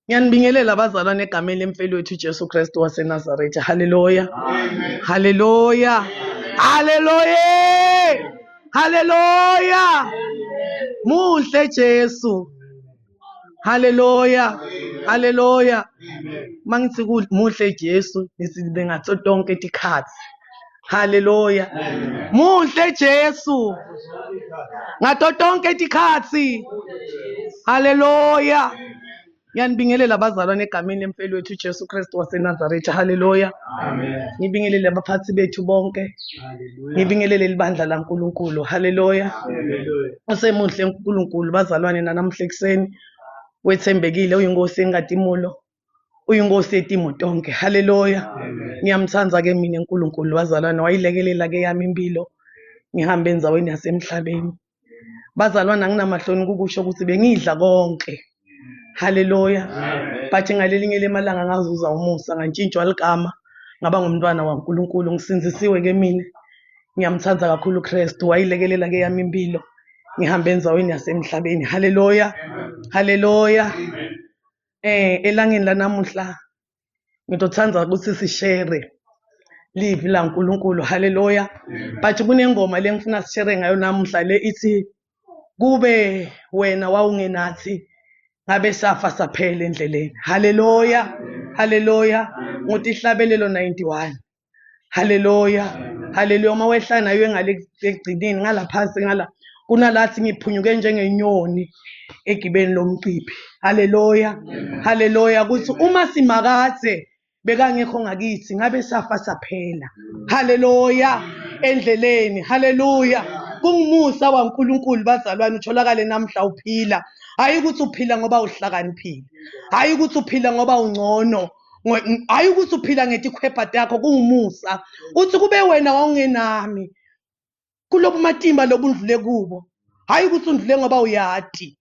Ngiyanibingelela abazalwane egameni lemfelwethu uJesu Kristu waseNazaretha. Haleluya. Haleluya. Haleluya. Haleluya. Muhle Jesu. Haleluya. Haleluya. Mangithi muhle Jesu nisibe ngaso tonke tikhathi. haleluya muhle jesu ngato tonke tikhatsi haleluya ngiyanibingelela abazalwane egameni lemfeli wethu ujesu kristu wasenazaretha haleluya ngibingelele abaphathi bethu bonke ngibingelele libandla lankulunkulu haleluya usemuhle unkulunkulu bazalwane nanamuhla ekuseni wethembekile uyinkosi engadimulo uyinkosi yetimo tonke haleluya ngiyamthanda ke mina uNkulunkulu wazalwana wayilekelela ke yami impilo ngihambe enzaweni yasemhlabeni bazalwana nginamahloni kukusho ukuthi bengidla konke haleluya but ngalelinye lemalanga ngazuza umusa ngantshintshwa ligama ngaba ngumntwana waNkulunkulu ngisinzisiwe ke mina ngiyamthanda kakhulu uKristu wayilekelela ke yami impilo ngihambe enzaweni yasemhlabeni haleluya haleluya eh elangeni lanamuhla ngizothanda ukuthi sishere live la uNkulunkulu haleluya but kunengoma lengifuna sishere ngayo namuhla le ithi kube wena wawungenathi ngabe safa saphela endleleni haleluya haleluya ngutihlabelelo 91 haleluya haleluya uma wehla nayo engale ekugcineni ngala phansi ngala kunalathi ngiphunyuke njengenyoni egibeni lomciphi haleluya haleluya kuthi uma simakade bekangekho ngakithi ngabe safa saphela haleluya endleleni haleluya kungumusa waNkulunkulu bazalwane utholakale namhla uphila hayi ukuthi uphila ngoba uhlakaniphile hayi ukuthi uphila ngoba ungcono hhayi ukuthi uphila ngetikhwebha takho kuwumusa uthi kube wena wawungenami kulobu matimba lobu undlule kubo hhayi ukuthi undlule ngoba uyati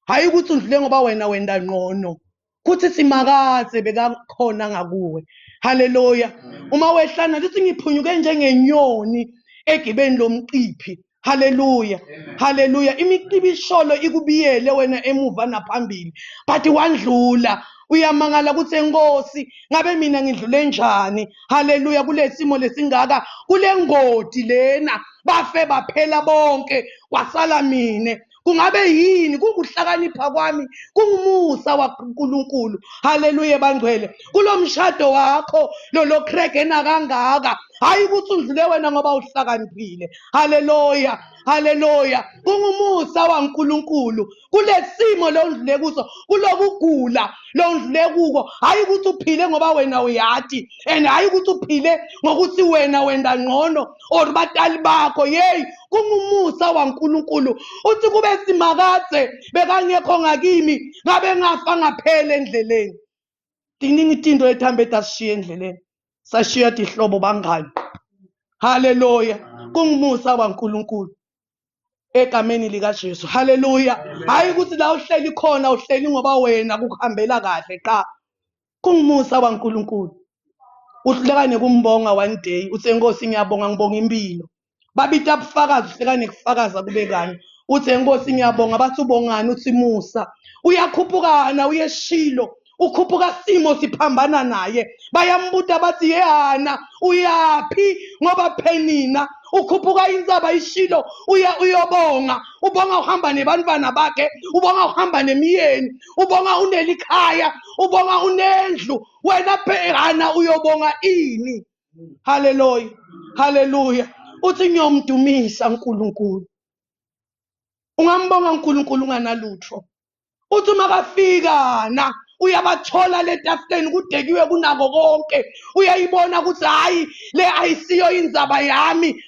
hhayi ukuthi undlule ngoba wena wenda ngqono kuthi simakaze bekakhona ngakuwe haleluya uma wehlana lithi ngiphunyuke njengenyoni egibeni lomciphi Hallelujah. Amen. Hallelujah. Imicibisholo ikubiyele wena emuva naphambili. But wandlula. Uyamangala ukuthi enkosi ngabe mina ngidlule njani. Hallelujah kulesimo lesingaka kulengodi lena bafe baphela bonke kwasala mina. kungabe yini kunguhlakanipha kwami kungumusa wankulunkulu haleluya bangcwele kulo mshado wakho lolokhregena kangaka hhayi ukuthi udlule wena ngoba uhlakaniphile haleluya haleluya kungumusa wankulunkulu kule simo lowundlule kuso kulokugula lowundlule kuko hhayi ukuthi uphile ngoba wena uyati and hhayi ukuthi uphile ngokuthi wena wenda ngcono or batali bakho yeyi kungumusa wankulunkulu uthi kube simakade bekangekho ngakimi ngabe ngafa ngaphela endleleni tiningi tinto ethambe tasishiya endleleni sashiya tihlobo bangani haleluya kungumusa wankulunkulu egameni likaJesu haleluya hayi ukuthi la uhleli khona uhleli ngoba wena kukuhambela kahle qha kungumusa waNkulunkulu uhlekane kumbonga one day uthe nkosi ngiyabonga ngibonga impilo babita bufakazi uhlekane kufakaza kube kanye uthe nkosi ngiyabonga bathi ubongani uthi musa uyakhuphukana uyeshilo ukhuphuka simo siphambana naye bayambuta bathi yehana uyaphi ngoba phenina ukhuphuka insaba ishilo uya uyobonga ubonga uhamba nebantwana bakhe ubonga uhamba nemiyeni ubonga unelikhaya ubonga unendlu wena bhekana uyobonga ini haleluya haleluya uthi ngiyomdumisa uNkulunkulu ungambonga uNkulunkulu unganalutho uthi uma kafika na uyabathola le tafuleni kudekiwe kunako konke uyayibona ukuthi hhayi le ayisiyo inzaba yami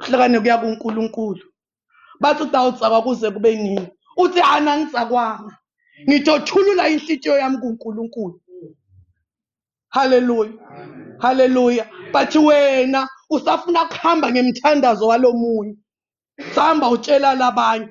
uhlakane kuya kuNkulunkulu bathi utawutsakwa kuze kube nini uthi hhayi nangitsakwanga ngitothulula inhlitiyo yami kuNkulunkulu haleluya haleluya but wena usafuna kuhamba ngemthandazo walomunye sihamba utshela labanye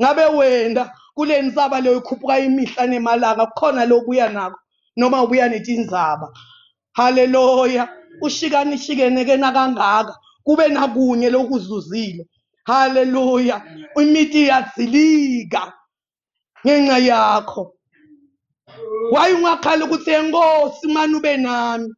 ngabe wena kule nsaba leyo ikhuphuka imihla nemalanga kukhona lobuya nako noma ubuya netinzaba haleluya ushikanishikeneke nakangaka kube nakunye lokuzuzile haleluya imithi iyazilika ngenxa yakho wayungakhala ukuthi enkosi mani ube nami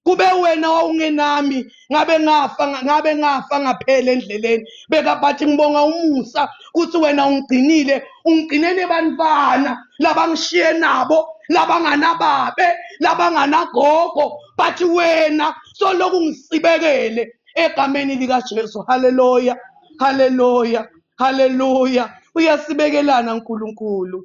kube wena wawungenami ngabe ngafa ngabe ngafa ngaphela endleleni beka bathi ngibonga umusa ukuthi wena ungigcinile ungigcine nebantwana labangishiye nabo labanganababe labanganagogo bathi wena soloku ngisibekele egameni likaJesu haleluya haleluya haleluya uyasibekelana uNkulunkulu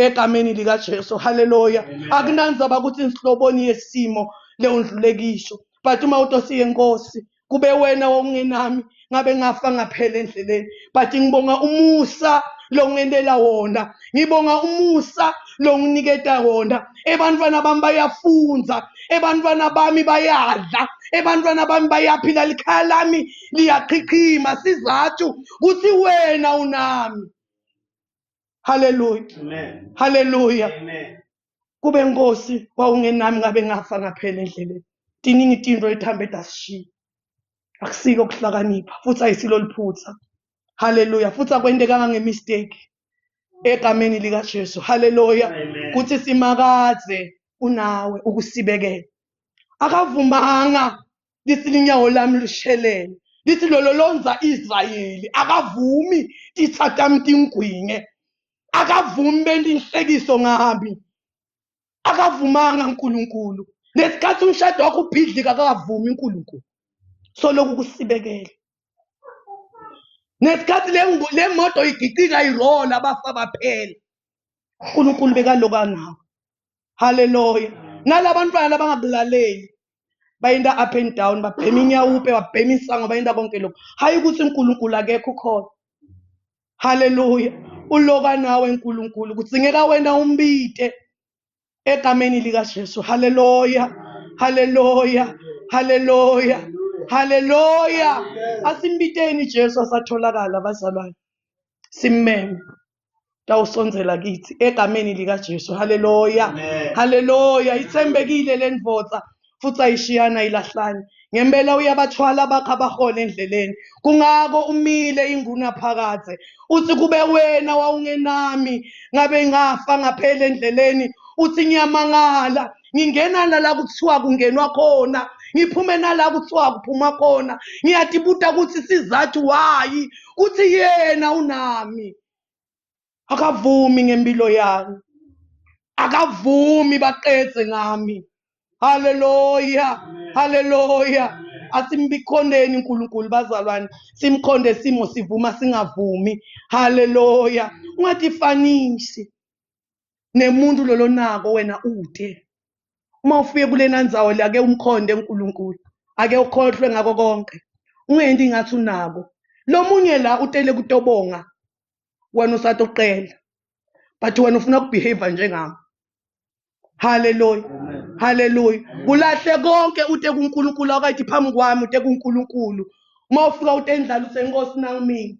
egameni likaJesu haleluya akunanzaba ukuthi inhloboni yesimo leyo ndlulekisho but uma utosiye nkosi kube wena wawungenami ngabe ngafa ngaphela endleleni but ngibonga umusa longenela wona ngibonga umusa longiniketa wona ebantwana bami bayafunza ebantwana bami bayadla ebantwana bami bayaphila likhaya lami liyaqhiqhima sizathu kuthi wena unami haleluya haleluya kube nkosi wawungenami ngabe ngafa ngaphela endleleni tiningi tinto ethambe dasishiya akusiko ukuhlakanipha futhi ayisilo liphutha haleluya futhi akwentekanga ngemistake egameni likaJesu haleluya kuthi simakaze unawe ukusibekela akavumanga lithi linyawo lami lushelele lithi lolo lonza israyeli akavumi tithatami tingwinge akavumi bentinhlekiso ngami akavumanga nkulunkulu nesikhathi umshado wakho ubhidlika akavumi unkulunkulu soloku kusibekele nesikhathi le moto igicika irola abafa baphela unkulunkulu bekaloku anawo haleluya nalabantwana labangakulaleli bayinda up and down babhema inyawupe babhema insango bayinda konke lokhu hhayi ukuthi unkulunkulu akekho ukhona haleluya uloka nawe nkulunkulu kudzingeka wena umbite egameni likajesu haleluya haleluya haleluya haleluya asimbiteni jesu asatholakala bazalwane simmeme tawusondzela kitsi egameni likaJesu haleluya haleluya itsembekile lendvodza futhi ayishiyana ilahlani ngempela uyabathwala bakho abahona endleleni kungako umile inguna phakadze uthi kube wena wawungenami ngabe ngafa ngaphela endleleni uthi ngiyamangala ngingena nala kuthiwa kungenwa khona ngiphume nala kuthiwa kuphuma khona ngiyatibuta ukuthi sizathu wayi kuthi yena unami akavumi ngempilo yami akavumi baqedze ngami haleluya haleluya asimbikhondeni uNkulunkulu bazalwane simkhonde simo sivuma singavumi haleluya ungatifanishi nemuntu lolo nako wena ude uma ufike kulena ndzawo le ake umkhonde uNkulunkulu ake ukhohlwe ngako konke ungendi ngathi unako lomunye la utele kutobonga wena usathi uqela but wena ufuna ukubehave njengami haleluya haleluya kulahle konke ute kuNkulunkulu akayithi phambi kwami ute kuNkulunkulu uma ufika utendlala usenkosi nangimini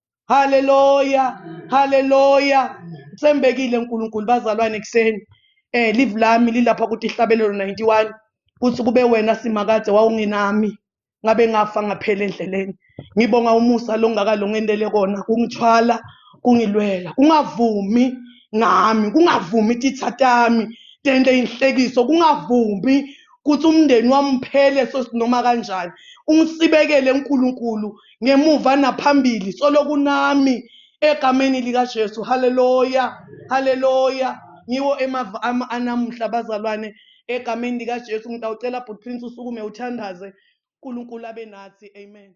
haleluya haleluya sembekile uNkulunkulu bazalwane kuseni eh live lami lilapha kuthi ihlabelelo 91 kuthi kube wena simakade wawungenami ngabe ngafa ngaphela endleleni ngibonga umusa longakalongendele kona kungithwala kungilwela kungavumi ngami kungavumi tithatami tende inhlekiso kungavumi kuthi umndeni wami uphele sosinoma kanjani ungisibekele uNkulunkulu ngemuva naphambili soloku nami egameni likaJesu haleluya haleluya ngiwo emava ami anamuhla bazalwane egameni likaJesu ngitawucela bhuti Prince usukume uthandaze uNkulunkulu abe nathi amen